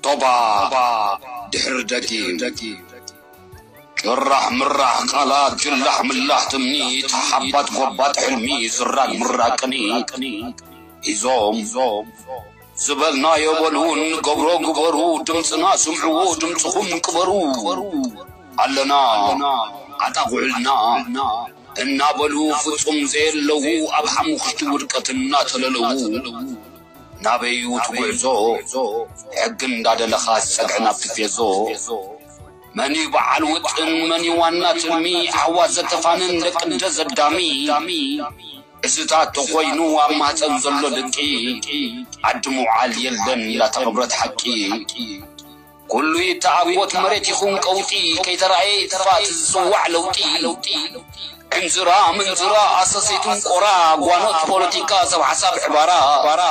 ቶባ ድሕሪ ደጊም ጭራሕ ምራሕ ቃላት ጭላሕ ምላሕ ትምኒት ሓሓባት ጎባጥ ሕልሚ ዝራግ ምራግ ቅኒ ሒዞም ዝበልናዮ በሉ እንገብሮ ግበሩ ድምጽና ስምዕዎ ድምጽኹም ቅበሩ ኣለና ዓጣቑዕልና እናበሉ ፍጹም ዘየለዉ ኣብ ሓሙኽሽቲ ውድቀት እናተለለዉ ናበይ'ዩ እቲ ጉዕዞ ሕጊ እንዳደለኻስ ጸግዒ ናብ ቲፌዞ መን'ዩ በዓል ውጥን መን'ዩ ዋና ትልሚ ኣሕዋት ዘተፋንን ደቅ'ደ ዘዳሚ እዚታት ተኾይኑ ኣብ ማህጸን ዘሎ ድቂ ዓዲ ምውዓል የለን ላተቐብረት ሓቂ። ኩሉ ይተዓወት መሬት ይኹን ቀውጢ ከይተራእየ ይጥፋእ እቲ ዝጽዋዕ ለውጢ ዕንዝራ ምንዝራ ኣሰሰይቲ እንቆራ ጓኖት ፖለቲካ ሰብ ሓሳብ ዕባራ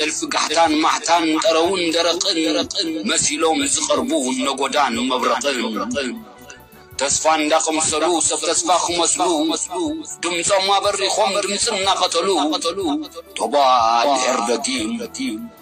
እልፊ ጋሕታን ማሕታን ጠረውን ደረቕን መሲሎም ዝቐርቡ ነጎዳን መብረቕን ተስፋ እንዳቐምሰሉ ሰብ ተስፋ ክመስሉ ድምጾም ኣበሪኾም ድምጺ እናቐተሉ ቶባእ ድሕር ደጊም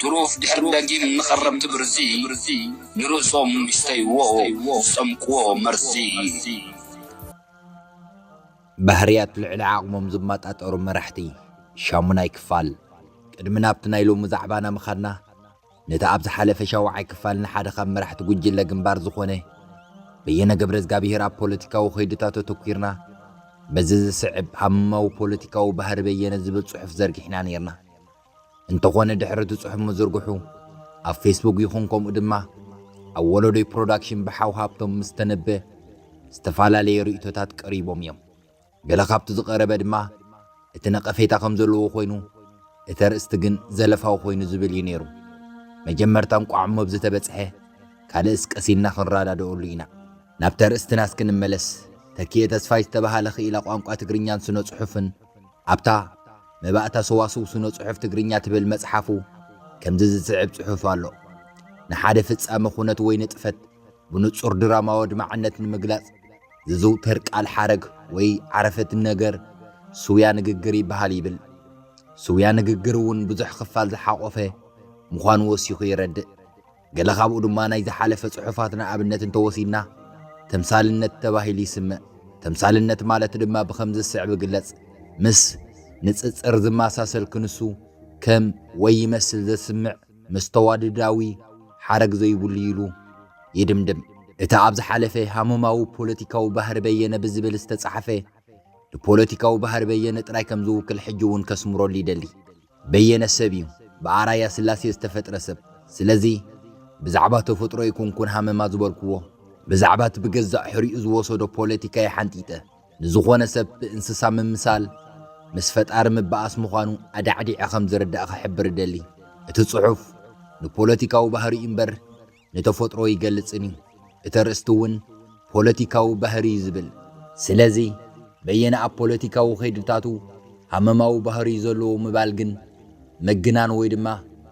ትሩፍ ድሕሪ ደጊም ንኸረምቲ ብርዚ ንርእሶም ይስተይዎ ዝጠምቅዎ መርዚ። ባህርያት ልዕሊ ዓቕሞም ዝመጣጠሩ መራሕቲ። ሻሙናይ ክፋል፣ ቅድሚ ናብቲ ናይ ሎሚ ዛዕባና ምኻድና፣ ነቲ ኣብ ዝሓለፈ ሻውዓይ ክፋል ንሓደ ካብ መራሕቲ ጉጅለ ግንባር ዝኾነ በየነ ገብረዝጋብሄር ኣብ ፖለቲካዊ ከይድታቱ ኣተኲርና በዚ ዝስዕብ ሃመማዊ ፖለቲካዊ ባህሪ በየነ ዝብል ጽሑፍ ዘርጊሕና ነይርና። እንተኾነ ድሕሪ እቲ ጽሑፍ ምዝርግሑ ኣብ ፌስቡክ ይኹን ከምኡ ድማ ኣብ ወለዶይ ፕሮዳክሽን ብሓው ሃብቶም ምስ ተነበ ዝተፈላለየ ርእይቶታት ቀሪቦም እዮም። ገለ ካብቲ ዝቐረበ ድማ እቲ ነቐፌታ ከም ዘለዎ ኮይኑ እቲ ኣርእስቲ ግን ዘለፋዊ ኮይኑ ዝብል እዩ ነይሩ። መጀመርታ እንቋዕ እሞ ኣብዚ ተበጽሐ ካልእስ ቀስ ኢልና ክንረዳደኣሉ ኢና። ናብቲ ኣርእስትና እስኪ ንመለስ፣ ተኪኤ ተስፋይ ዝተበሃለ ክኢላ ቋንቋ ትግርኛን ስነ-ጽሑፍን፣ ኣብታ መባእታ ሰዋስው ስነ-ጽሑፍ ትግርኛ ትብል መጽሓፉ ከምዚ ዝስዕብ ጽሑፍ ኣሎ። ንሓደ ፍጻመ ኩነት ወይ ንጥፈት ብንጹር ድራማዊ ኣድማዕነት ንምግላጽ ዝዝውተር ቃል ሓረግ ወይ ዓረፍት ነገር ስውያ ንግግር ይበሃል ይብል። ስውያ ንግግር እውን ብዙሕ ክፋል ዝሓቖፈ ምዃኑ ወሲኹ የረድእ። ገለ ካብኡ ድማ ናይ ዝሓለፈ ጽሑፋትና ኣብነት እንተወሲድና ተምሳልነት ተባሂሉ ይስምዕ። ተምሳልነት ማለት ድማ ብኸም ዝስዕብ ግለጽ። ምስ ንጽጽር ዝመሳሰል ክንሱ ከም ወይ ይመስል ዘስምዕ መስተዋድዳዊ ሓረግ ዘይብሉ ኢሉ ይድምድም። እቲ ኣብ ዝሓለፈ ሃመማዊ ፖለቲካዊ ባህሪ በየነ ብዝብል ዝተጻሕፈ ንፖለቲካዊ ባህሪ በየነ ጥራይ ከም ዝውክል ሕጂ እውን ከስምረሉ ይደሊ። በየነ ሰብ እዩ ብኣራያ ስላሴ ዝተፈጥረ ሰብ ስለዚ ብዛዕባ ተፈጥሮ ኣይኮንኩን ሃመማ ዝበልክዎ ብዛዕባ እቲ ብገዛእ ሕሪኡ ዝወሰዶ ፖለቲካ እየ ሓንጢጠ ንዝኾነ ሰብ ብእንስሳ ምምሳል ምስ ፈጣሪ ምባኣስ ምዃኑ ኣዳዕዲዐ ከምዝርዳእ ክሕብር እደሊ እቲ ፅሑፍ ንፖለቲካዊ ባህሪኡ እምበር ንተፈጥሮ ይገልጽን እዩ። እቲ ኣርእስቲ እውን ፖለቲካዊ ባህሪ እዩ ዝብል። ስለዚ በየነ ኣብ ፖለቲካዊ ከይድታቱ ሃመማዊ ባህሪ እዩ ዘለዎ ምባል ግን ምግናን ወይ ድማ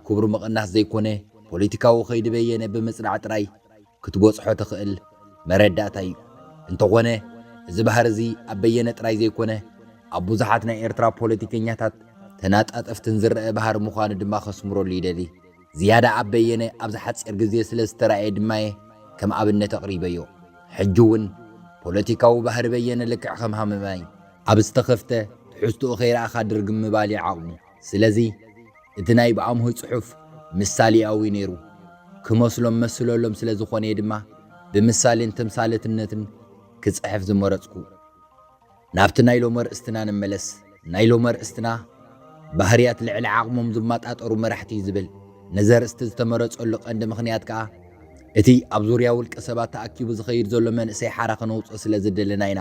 ክብሩ ምቕናስ ዘይኮነ ፖለቲካዊ ከይዲ በየነ ብምጽናዕ ጥራይ ክትበጽሖ ትኽእል መረዳእታ እዩ። እንተኾነ እዚ ባህሪ እዚ ኣብ በየነ ጥራይ ዘይኮነ ኣብ ብዙሓት ናይ ኤርትራ ፖለቲከኛታት ተናጣጠፍትን ዝረኣ ባህሪ ምዃኑ ድማ ከስምረሉ ይደሊ። ዝያዳ ኣብ በየነ ኣብዚ ሓጺር ግዜ ስለ ዝተራእየ ድማ'የ ከም ኣብነት ኣቕሪበዮ። ሕጂ'ውን ፖለቲካዊ ባህሪ በየነ ልክዕ ከም ሃመማ'ዩ። ኣብ ዝተኸፍተ ትሕዝትኡ ከይረኣኻ ድርግም ምባል'ዩ ዓቕሙ። ስለዚ እቲ ናይ ብኣምሆይ ጽሑፍ ምሳሌኣዊ'ዩ ነይሩ። ክመስሎም መስለሎም ስለ ዝኾነ'የ ድማ ብምሳሌን ተምሳሌትነትን ክጽሕፍ ዝመረጽኩ። ናብቲ ናይ ሎሚ ኣርእስትና ንመለስ። ናይ ሎሚ ኣርእስትና፣ ባህርያት ልዕሊ ዓቕሞም ዝማጣጠሩ መራሕቲ እዩ ዝብል። ነዚ ኣርእስቲ ዝተመረጸሉ ቀንዲ ምኽንያት ከኣ፣ እቲ ኣብ ዙርያ ውልቀ ሰባት ተኣኪቡ ዝኸይድ ዘሎ መንእሰይ ሓራ ክነውጽኦ ስለ ዝደለና ኢና።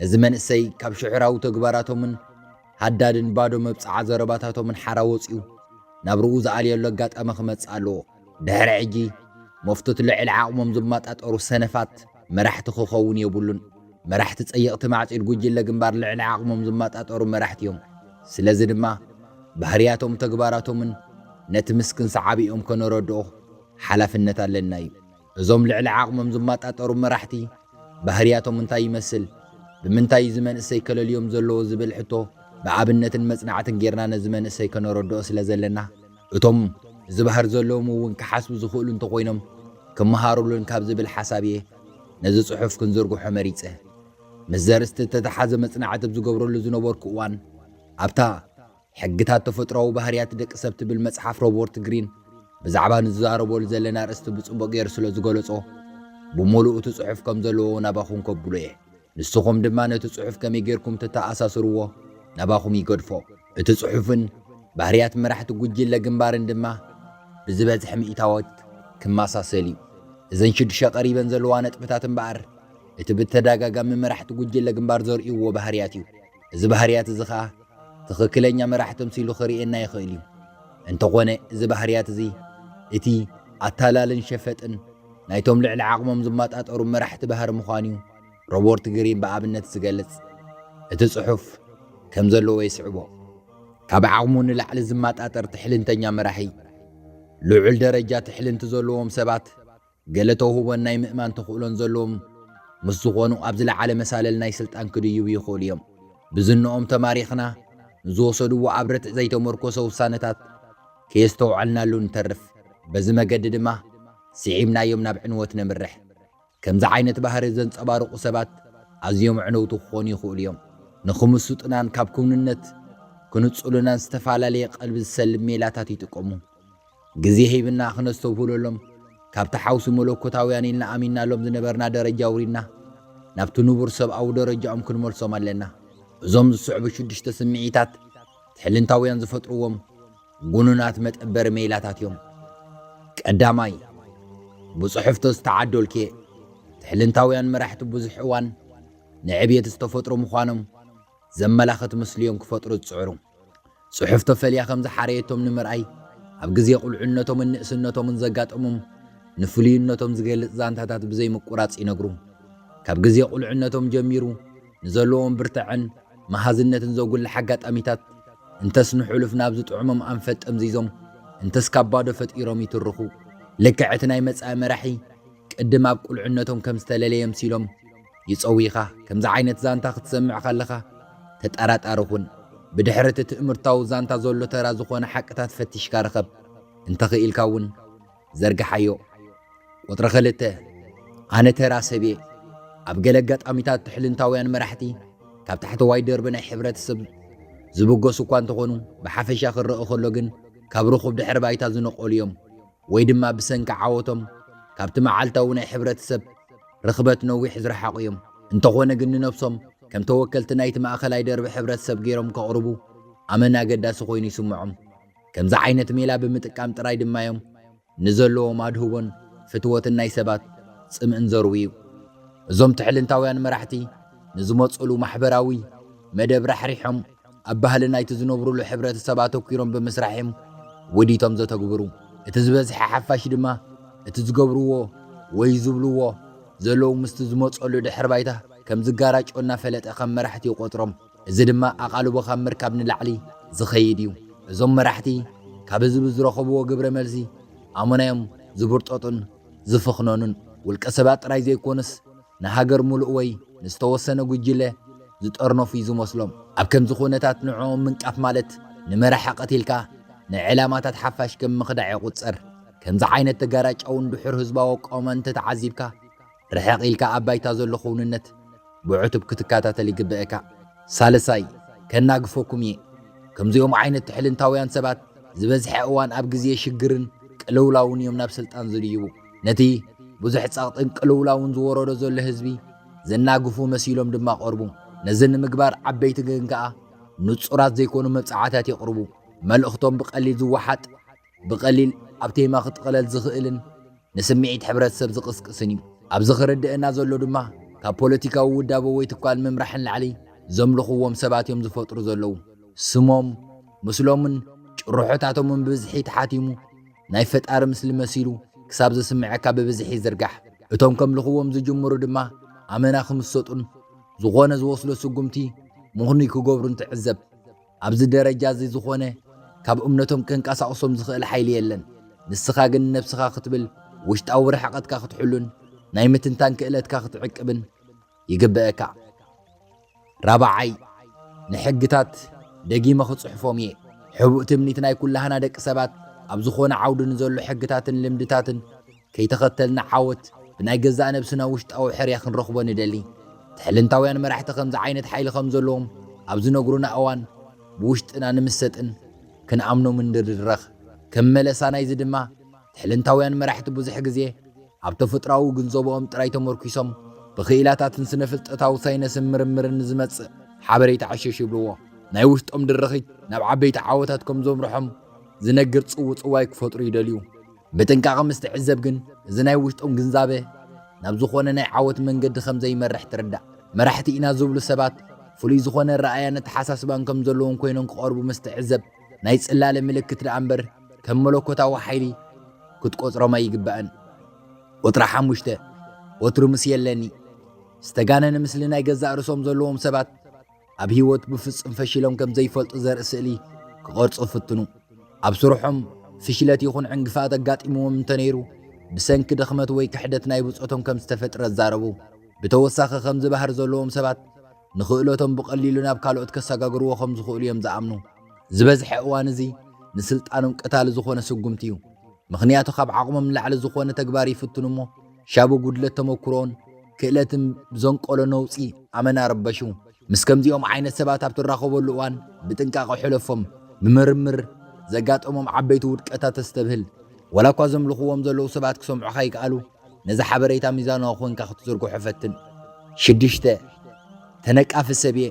ነዚ መንእሰይ ካብ ሽዕራዊ ተግባራቶምን ሃዳድን ባዶ መብጽዓ ዘረባታቶምን ሓራ ወጺኡ ናብራኡ ዝኣልየሉ ኣጋጣሚ ክመጽእ ኣለዎ። ድሕሪ ሕጂ መፍቶት ልዕሊ ዓቕሞም ዝማጣጠሩ ሰነፋት መራሕቲ ክኸውን የብሉን። መራሕቲ ጸየቕቲ ማዕጺድ ጉጅለ ግንባር ልዕሊ ዓቕሞም ዝማጣጠሩ መራሕቲ'ዮም። ስለዚ ድማ ባህርያቶም ተግባራቶምን ነቲ ምስክን ሰዓቢኦም ከነረድኦ ሓላፍነት ኣለና'ዩ። እዞም ልዕሊ ዓቕሞም ዝማጣጠሩ መራሕቲ ባህርያቶም እንታይ ይመስል? ብምንታይ እዩ እዚ መንእሰይ ከለልዮም ዘለዎ ዝብል ሕቶ ብኣብነትን መጽናዕትን ጌርና ነዚ መንእሰይ ከነረድኦ ስለ ዘለና፣ እቶም ዝባህር ዘለዎም እውን ክሓስቡ ዝኽእሉ እንተኾይኖም ክመሃርሉን ካብ ዝብል ሓሳብ እየ ነዚ ጽሑፍ ክንዝርግሖ መሪጸ። ምስ ዘርእስቲ እተተሓዘ መጽናዕቲ ኣብ ዝገብረሉ ዝነበርኩ እዋን ኣብታ ሕግታት ተፈጥሮኣዊ ባህርያት ደቂ ሰብ ትብል መጽሓፍ ሮቦርት ግሪን ብዛዕባ ንዝዛረበሉ ዘለና ኣርእስቲ ብጽቡቕ ገይሩ ስለ ዝገለጾ፣ ብምሉኡ እቲ ጽሑፍ ከም ዘለዎ ናባኹም ከብሎ እየ። ንስኹም ድማ ነቲ ጽሑፍ ከመይ ገይርኩም ተተኣሳስርዎ ናባኹም ይገድፎ። እቲ ጽሑፍን ባህርያት መራሕቲ ጉጅለ ግንባርን ድማ ብዝበዝሐ ሚእታዎት ክመሳሰል እዩ። እዘን ሽዱሽተ ቀሪበን ዘለዋ ነጥብታት እምበኣር እቲ ብተደጋጋሚ መራሕቲ ጉጅለ ግንባር ዘርእይዎ ባህርያት እዩ። እዚ ባህርያት እዚ ኸኣ ትኽክለኛ መራሒ ተምሲሉ ኺርእየና ይኽእል እዩ። እንተኾነ እዚ ባህርያት እዚ እቲ ኣታላልን ሸፈጥን ናይቶም ልዕሊ ዓቕሞም ዝማጣጠሩ መራሕቲ ባህሪ ምዃኑ እዩ ሮቦርት ግሪን ብኣብነት ዝገልጽ። እቲ ጽሑፍ ከም ዘለዎ የስዕቦ። ካብ ዓቕሙ ንላዕሊ ዝማጣጠር ትሕልንተኛ መራሒ፣ ልዑል ደረጃ ትሕልንቲ ዘለዎም ሰባት፣ ገለ ተውህቦን ናይ ምእማን ተኽእሎን ዘለዎም ምስ ዝኾኑ ኣብ ዝለዓለ መሳልል ናይ ስልጣን ክድይቡ ይኽእሉ እዮም። ብዝነኦም ተማሪኽና ንዝወሰድዎ ኣብ ርትዕ ዘይተመርኮሰ ውሳነታት ከየስተውዐልናሉ ንተርፍ። በዚ መገዲ ድማ ስዒብናዮም ናብ ዕንወት ነምርሕ። ከምዚ ዓይነት ባህሪ ዘንጸባርቑ ሰባት ኣዝዮም ኣዕነውቲ ክኾኑ ይኽእሉ እዮም። ንክምስጡናን ካብ ክውንነት ክንጹሉናን ዝተፈላለየ ቀልቢ ዝሰልብ ሜላታት ይጥቀሙ። ግዜ ሂብና ክነስተብህለሎም፣ ካብቲ ሓውሲ መለኮታውያን ኢልና ኣሚንናሎም ዝነበርና ደረጃ ኣውሪድና፣ ናብቲ ንቡር ሰብኣዊ ደረጃኦም ክንመልሶም ኣለና። እዞም ዝስዕቡ ሽዱሽተ ስምዒታት፣ ትሕልንታውያን ዝፈጥርዎም ግኑናት መጠበሪ ሜላታት እዮም። ቀዳማይ፣ ብጽሑፍቶ ዝተዓዶልኬ፣ ትሕልንታውያን መራሕቲ ብዙሕ እዋን ንዕብየት ዝተፈጥሩ ምዃኖም፣ ዘመላኽት ምስሊ'ዮም ክፈጥሩ ዝጽዕሩ። ጽሑፍ ተፈልያ ከም ዝሓረየቶም ንምርኣይ፣ ኣብ ግዜ ቁልዕነቶምን ንእስነቶምን ዘጋጠሞም ንፍሉይነቶም ዝገልጽ ዛንታታት ብዘይምቁራጽ ይነግሩ። ካብ ግዜ ቁልዕነቶም ጀሚሩ ንዘለዎም ብርታዐን መሃዝነትን ዘጉልሕ ኣጋጣሚታት እንተስ ንሕሉፍ ናብ ዝጥዕሞም ኣንፈት ጠምዚዞም እንተስ ካብ ባዶ ፈጢሮም ይትርኹ። ልክዕ እቲ ናይ መጻኢ መራሒ ቅድም ኣብ ቁልዕነቶም ከም ዝተለለየ ኣምሲሎም፣ ይጸውይኻ ከምዚ ዓይነት ዛንታ ክትሰምዕ ከለኻ ተጠራጣሪ ኩን ብድሕሪ እቲ ትእምርታዊ ዛንታ ዘሎ ተራ ዝኾነ ሓቅታት ፈቲሽካ ርኸብ እንተኽኢልካ ውን ዘርግሓዮ ቁጽሪ ክልተ ኣነ ተራ ሰብየ ኣብ ገለ ኣጋጣሚታት ትሕልንታውያን መራሕቲ ካብ ታሕተዋይ ደርቢ ናይ ሕብረተሰብ ዝብገሱ እኳ እንተኾኑ ብሓፈሻ ክረእ ከሎ ግን ካብ ርኹብ ድሕሪ ባይታ ዝነቐሉ እዮም ወይ ድማ ብሰንኪ ዓወቶም ካብቲ መዓልታዊ ናይ ሕብረተሰብ ርኽበት ነዊሕ ዝረሓቑ እዮም። እንተኾነ ግን ንነብሶም ከም ተወከልቲ ናይቲ ማእከላይ ደርቢ ሕብረተሰብ ገይሮም ከቕርቡ ኣመና ኣገዳሲ ኮይኑ ይስምዖም። ከምዚ ዓይነት ሜላ ብምጥቃም ጥራይ ድማ እዮም ንዘለዎም ኣድህቦን ፍትወትን ናይ ሰባት ጽምእን ዘርውዩ። እዞም ትሕልንታውያን መራሕቲ ንዝመጹሉ ማሕበራዊ መደብ ራሕሪሖም፣ ኣብ ባህሊ ናይቲ ዝነብሩሉ ሕብረተሰብ ኣተኲሮም ብምስራሕ እዮም ወዲቶም ዘተግብሩ። እቲ ዝበዝሐ ሓፋሽ ድማ እቲ ዝገብርዎ ወይ ዝብልዎ ዘለዉ ምስቲ ዝመጸሉ ድሕረ ባይታ ከም ዝጋራጮ እናፈለጠ ከም መራሕቲ ይቖጽሮም። እዚ ድማ ኣቓልቦ ካብ ምርካብ ንላዕሊ ዝኸይድ እዩ። እዞም መራሕቲ ካብ ህዝቢ ዝረኸብዎ ግብረ መልሲ ኣመና እዮም ዝብርጠጡን ዝፍኽነኑን። ውልቀ ሰባት ጥራይ ዘይኮኑስ፣ ንሃገር ምሉእ ወይ ንዝተወሰነ ጉጅለ ዝጠርነፉ እዩ ዝመስሎም። ኣብ ከምዚ ኩነታት ንዕኦም ምንቃፍ ማለት ንመራሒ ቀቲልካ ንዕላማታት ሓፋሽ ከም ምኽዳዕ ይቑጸር። ከምዚ ዓይነት ተጋራጫውን ድሑር ህዝባዊ ኣቋውማን እንተተዓዚብካ፣ ርሕቕ ኢልካ ኣብ ባይታ ዘሎ ክውንነት ብዕቱብ ክትከታተል ይግበእካ። ሳልሳይ፣ ከናግፈኩም እየ፣ ከምዚኦም ዓይነት ትሕልንታውያን ሰባት ዝበዝሐ እዋን ኣብ ግዜ ሽግርን ቅልውላውን እዮም ናብ ስልጣን ዝድይቡ። ነቲ ብዙሕ ጸቕጥን ቅልውላውን ዝወረዶ ዘሎ ህዝቢ ዘናግፉ መሲሎም ድማ ቐርቡ። ነዚ ንምግባር ዓበይቲ ግን ከኣ ንጹራት ዘይኮኑ መብጽዓታት የቕርቡ። መልእኽቶም ብቐሊል ዝወሓጥ፣ ብቐሊል ኣብ ቴማ ክጥቕለል ዝኽእልን ንስምዒት ሕብረተሰብ ዝቕስቅስን እዩ። ኣብዚ ክርደእና ዘሎ ድማ ካብ ፖለቲካዊ ውዳበ ወይ ትካል ምምራሕ ንላዕሊ ዘምልኽዎም ሰባት እዮም ዝፈጥሩ ዘለዉ። ስሞም፣ ምስሎምን ጭርሖታቶምን ብብዝሒ ተሓቲሙ፣ ናይ ፈጣሪ ምስሊ መሲሉ ክሳብ ዝስመዐካ ብብዝሒ ይዝርጋሕ። እቶም ከምልኽዎም ዝጅምሩ ድማ ኣመና ክምሰጡን ዝኾነ ዝወስዶ ስጉምቲ ምኽኑይ ክገብሩን ትዕዘብ። ኣብዚ ደረጃ እዚ ዝኾነ ካብ እምነቶም ከንቀሳቕሶም ዝኽእል ሓይሊ የለን። ንስኻ ግን ንነብስኻ ክትብል ውሽጣዊ ርሕቐትካ ክትሕሉን ናይ ምትንታን ክእለትካ ክትዕቅብን ይግበእካ። ራብዓይ፣ ንሕግታት ደጊመ ክጽሕፎም እየ። ሕቡእ ትምኒት ናይ ኩላህና ደቂ ሰባት፣ ኣብ ዝኾነ ዓውዲ ንዘሎ ሕግታትን ልምድታትን ከይተኸተልና ዓወት ብናይ ገዛእ ነብስና ውሽጣዊ ሕርያ ክንረኽቦ ንደሊ። ትሕልንታውያን መራሕቲ ከምዚ ዓይነት ሓይሊ ከም ዘለዎም ኣብ ዝነግሩና እዋን ብውሽጥና ንምሰጥን ክንኣምኖምን ንድረኽ። ከም መለሳ ናይዚ ድማ ትሕልንታውያን መራሕቲ ብዙሕ ግዜ ኣብ ተፈጥሮኣዊ ግንዘቦኦም ጥራይ ተመርኲሶም ብክኢላታትን ስነፍልጠታዊ ሳይነስን ምርምርን ንዝመጽእ ሓበሬታ ዕሽሽ ይብልዎ። ናይ ውሽጦም ድርኺት ናብ ዓበይቲ ዓወታት ከም ዘምርሖም ዝነግር ጽውጽዋይ ክፈጥሩ ይደልዩ። ብጥንቃቐ ምስ ትዕዘብ ግን እዚ ናይ ውሽጦም ግንዛበ ናብ ዝኾነ ናይ ዓወት መንገዲ ከም ዘይመርሕ ትርዳእ። መራሕቲ ኢና ዝብሉ ሰባት ፍሉይ ዝኾነ ኣረኣእያን ኣተሓሳስባን ከም ዘለዎም ኮይኖም ክቐርቡ ምስ ትዕዘብ፣ ናይ ጽላለ ምልክት ደኣ እምበር ከም መለኮታዊ ሓይሊ ክትቆጽሮም ኣይግባእን። ቁጽሪ ሓሙሽተ ወትሩ ምስ የለኒ ዝተጋነነ ምስሊ ናይ ገዛእ ርእሶም ዘለዎም ሰባት ኣብ ህይወት ብፍጹም ፈሺሎም ከም ዘይፈልጡ ዘርኢ ስእሊ ክቐርጹ ፍትኑ። ኣብ ስርሖም ፍሽለት ይኹን ዕንግፋት ኣጋጢምዎም እንተነይሩ ብሰንኪ ድኽመት ወይ ክሕደት ናይ ብጾቶም ከም ዝተፈጥረ ዛረቡ። ብተወሳኺ ከምዚ ባህሪ ዘለዎም ሰባት ንኽእለቶም ብቐሊሉ ናብ ካልኦት ከሰጋግርዎ ከም ዝኽእሉ እዮም ዝኣምኑ። ዝበዝሐ እዋን እዚ ንስልጣኖም ቀታሊ ዝኾነ ስጉምቲ እዩ። ምኽንያቱ ካብ ዓቕሞም ንላዕሊ ዝኾነ ተግባር ይፍትኑ እሞ ሻቡ ጉድለት ተመኩሮን ክእለትን ብዘንቀሎ ነውጺ ኣመና ርበሹ። ምስ ከምዚኦም ዓይነት ሰባት ኣብ ትራኸበሉ እዋን ብጥንቃቐ ሕለፎም። ብምርምር ዘጋጠሞም ዓበይቲ ውድቀታት ተስተብህል። ዋላኳ ዘምልኽዎም ዘለዉ ሰባት ክሰምዑኻ ይክኣሉ። ነዚ ሓበሬታ ሚዛናዊ ኮንካ ክትዝርግሖ ፈትን። ሽዱሽተ፣ ተነቃፊ ሰብ'የ፣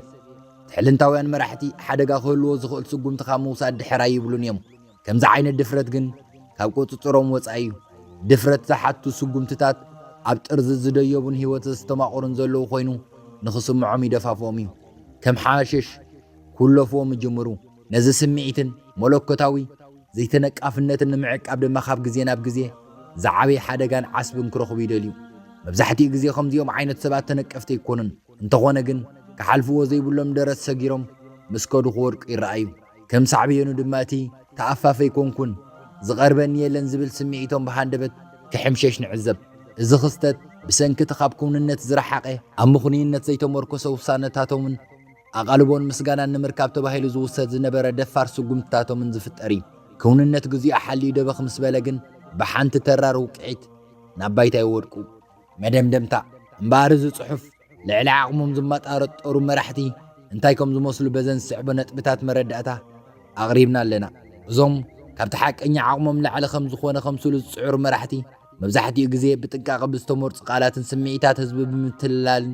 ትሕልንታውያን መራሕቲ ሓደጋ ክህልዎ ዝኽእል ስጉምቲ ካብ ምውሳድ ድሕር ኣይብሉን እዮም። ከምዚ ዓይነት ድፍረት ግን ካብ ቁጽጽሮም ወጻኢ እዩ። ድፍረት ዝሓቱ ስጉምትታት ኣብ ጥርዚ ዝደየቡን ህይወት ዘስተማቕሩን ዘለዉ ኮይኑ ንኽስምዖም ይደፋፍኦም እዩ። ከም ሓሽሽ ኩለፍዎም ይጅምሩ። ነዚ ስምዒትን መለኮታዊ ዘይተነቃፍነትን ንምዕቃብ ድማ ካብ ግዜ ናብ ግዜ ዝዓበየ ሓደጋን ዓስብን ክረኽቡ ይደልዩ። መብዛሕትኡ ግዜ ከምዚኦም ዓይነት ሰባት ተነቀፍቲ ኣይኮኑን፣ እንተኾነ ግን ክሓልፍዎ ዘይብሎም ደረት ሰጊሮም ምስ ከዱ ክወድቁ ይረኣዩ። ከም ሳዕቤኑ ድማ እቲ ተኣፋፊ ኣይኮንኩን፣ ዝቐርበኒ የለን ዝብል ስምዒቶም ብሃንደበት ክሕምሸሽ ንዕዘብ። እዚ ክስተት ብሰንኪ እቲ ካብ ክውንነት ዝረሓቐ ኣብ ምኽኑይነት ዘይተመርኮሰ ውሳነታቶምን፣ ኣቓልቦን ምስጋናን ንምርካብ ተባሂሉ ዝውሰድ ዝነበረ ደፋር ስጉምትታቶምን ዝፍጠር እዩ። ክውንነት ግዚኡ ሓልዩ ደበኽ ምስ በለ ግን ብሓንቲ ተራር ውቅዒት ናብ ባይታ ይወድቁ። መደምደምታ፣ እምበኣር እዚ ጽሑፍ ልዕሊ ዓቕሞም ዝማጣረጠሩ መራሕቲ እንታይ ከም ዝመስሉ በዘን ዝስዕቦ ነጥብታት መረዳእታ ኣቕሪብና ኣለና። እዞም ካብቲ ሓቀኛ ዓቕሞም ንላዕሊ ከም ዝኾነ ከምስሉ ዝጽዕሩ መራሕቲ መብዛሕትኡ ግዜ ብጥንቃቐ ብዝተመርጹ ቃላትን ስምዒታት ህዝቢ ብምትልላልን፣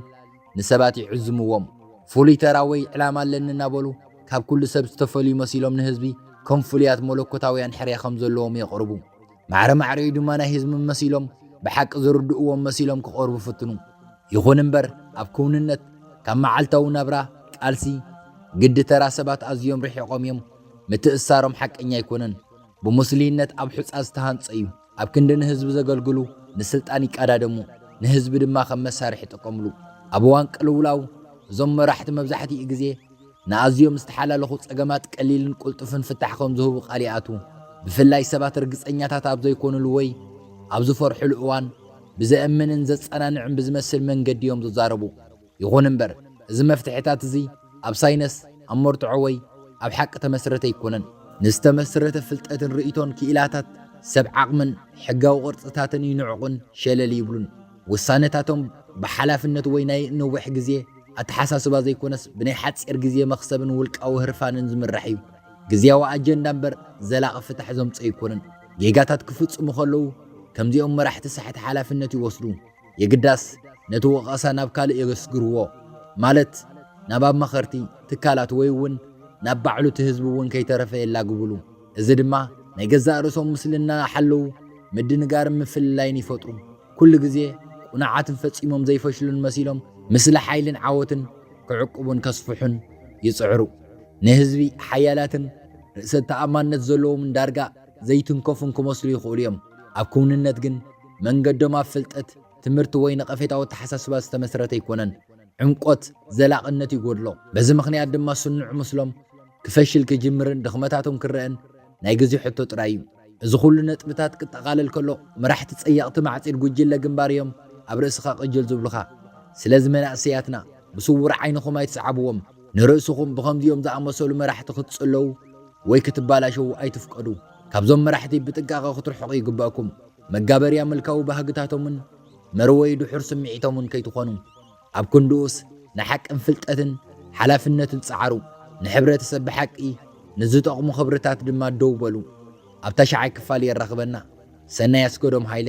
ንሰባት ይዕዝምዎም፣ ፍሉይ ተራ ወይ ዕላማ ኣለኒ እናበሉ ካብ ኩሉ ሰብ ዝተፈልዩ መሲሎም ንህዝቢ ከም ፍሉያት መለኮታውያን ሕርያ ከም ዘለዎም የቕርቡ። ማዕረ ማዕሪኡ ድማ ናይ ህዝቢ መሲሎም ብሓቂ ዝርድእዎም መሲሎም ክቐርቡ ይፍትኑ። ይኹን እምበር ኣብ ክውንነት ካብ መዓልታዊ ናብራ፣ ቃልሲ፣ ግዲ ተራ ሰባት ኣዝዮም ርሒቖም እዮም። ምትእስሳሮም ሓቀኛ ኣይኮነን። ብሙስሊይነት ኣብ ሑጻ ዝተሃንጸ እዩ። ኣብ ክንዲ ንህዝቢ ዘገልግሉ ንስልጣን ይቃዳደሙ ንህዝቢ ድማ ከም መሳርሒ ይጠቀምሉ። ኣብ እዋን ቅልውላው እዞም መራሕቲ መብዛሕቲኡ ግዜ ንኣዝዮም ዝተሓላለኹ ጸገማት ቀሊልን ቁልጡፍን ፍታሕ ከም ዝህቡ ቃል ይኣትዉ። ብፍላይ ሰባት ርግጸኛታት ኣብ ዘይኮኑሉ ወይ ኣብ ዝፈርሑሉ እዋን ብዘእምንን ዘጸናንዕን ብዝመስል መንገዲ እዮም ዝዛረቡ። ይኹን እምበር፣ እዚ መፍትሒታት እዚ ኣብ ሳይነስ፣ ኣብ መርትዖ ወይ ኣብ ሓቂ ተመስረተ ኣይኮነን። ንዝተመስረተ ፍልጠትን ርእይቶን ክኢላታት ሰብ ዓቕምን ሕጋዊ ቅርጽታትን ይንዕቑን ሸለል ይብሉን። ውሳነታቶም ብሓላፍነት ወይ ናይ ነዊሕ ግዜ ኣተሓሳስባ ዘይኮነስ ብናይ ሓጺር ግዜ መኽሰብን ውልቃዊ ህርፋንን ዝምራሕ እዩ። ግዝያዊ ኣጀንዳ እምበር ዘላቒ ፍታሕ ዘምጽኦ ኣይኮነን። ጌጋታት ክፍጽሙ ከለዉ ከምዚኦም መራሕቲ ሳሕቲ ሓላፍነት ይወስዱ። የግዳስ ነቲ ወቐሳ ናብ ካልእ የገስግርዎ፣ ማለት ናብ ኣማኸርቲ፣ ትካላት ወይ እውን ናብ ባዕሉ እቲ ህዝቢ እውን ከይተረፈ የላግብሉ። እዚ ድማ ናይ ገዛእ ርእሶም ምስሊ እናሓለዉ ምድንጋርን ምፍልላይን ይፈጥሩ። ኩሉ ግዜ ቁኑዓትን ፈጺሞም ዘይፈሽሉን መሲሎም ምስሊ ሓይልን ዓወትን ክዕቅቡን ከስፍሑን ይጽዕሩ። ንህዝቢ ሓያላትን ርእሰ ተኣማንነት ዘለዎምን ዳርጋ ዘይትንከፉን ክመስሉ ይኽእሉ እዮም፣ ኣብ ክውንነት ግን መንገዶም ኣብ ፍልጠት፣ ትምህርቲ ወይ ነቐፌታዊ ኣተሓሳስባ ዝተመስረተ ኣይኮነን። ዕምቆት፣ ዘላቕነት ይጎድሎ። በዚ ምኽንያት ድማ ስኑዕ ምስሎም ክፈሽል ክጅምርን ድኽመታቶም ክረኣን ናይ ግዜ ሕቶ ጥራይ እዩ። እዚ ኩሉ ነጥብታት ክጠቓለል ከሎ መራሕቲ ጸየቕቲ ማዕጺድ ጉጅለ ግንባር እዮም ኣብ ርእስኻ ቅጅል ዝብሉኻ። ስለዚ መናእሰያትና ብስውር ዓይንኹም ኣይትስዓብዎም። ንርእስኹም ብኸምዚኦም ዝኣመሰሉ መራሕቲ ክትጽለዉ ወይ ክትባላሸዉ ኣይትፍቀዱ። ካብዞም መራሕቲ ብጥንቃቐ ክትርሕቑ ይግበእኩም። መጋበርያ ምልካዊ ባህግታቶምን መርወዪ ድሑር ስምዒቶምን ከይትኾኑ። ኣብ ክንድኡስ ንሓቅን ፍልጠትን ሓላፍነትን ጸዓሩ። ንሕብረተሰብ ብሓቂ ንዝጠቕሙ ክብርታት ድማ ደው በሉ። ኣብ ታሽዓይ ክፋል የራኽበና። ሰናይ ኣስገዶም ሃይለ።